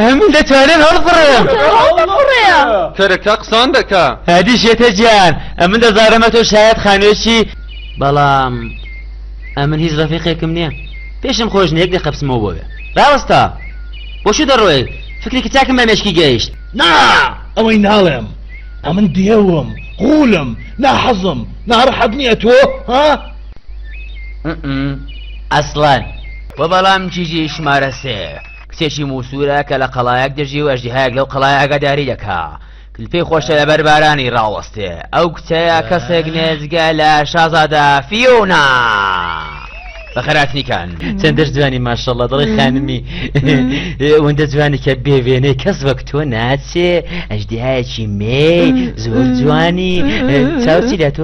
هەموو دەتوانن هەڵبڕێم کەرەکە قسان دەکا هادی شێتە جیان ئەمن دەزارەمە تۆ شایەت خانوێکی بەڵام ئەمن هیچ ڕەفیقێکم نییە پێشم خۆش نێک دە قەپسمەوە بۆێ ڕاوەستا بۆشو دەڕۆێ فکرێکی چاکم بە مێشکی گەیشت نا ئەوەی ناڵێم ئەمن دێوم قولم ناحەزم ناڕحەت نییە تۆ ها ئەسڵەن وەبەڵام کیژی شمارە سێ کچێکی موسورە کە لە قەڵایەک دژی و ئەژدیهایەک لەو قەڵای ئاگاداری دەکا کلپی خۆشە لە بەر بارانی ڕاوەستێ ئەو کچەیە کەسێک نێزگە لە شازادە فیونا بەخەراتنیکان چەندە جوانی ماشەڵە دڵی خانمی وەندە جوانی کە بێوێنەی کەس وەک تۆ ناچێ ئەژدیهایەکی مێ زۆر جوانی چاوچی لە تۆ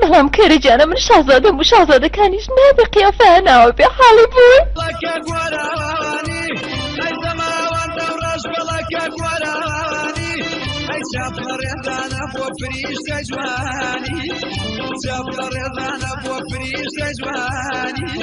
بەڵام کەرە جانە من شازادە و شازادەکانیش نابێ قیافەیان ناوە بێ حاڵی بوون جوانی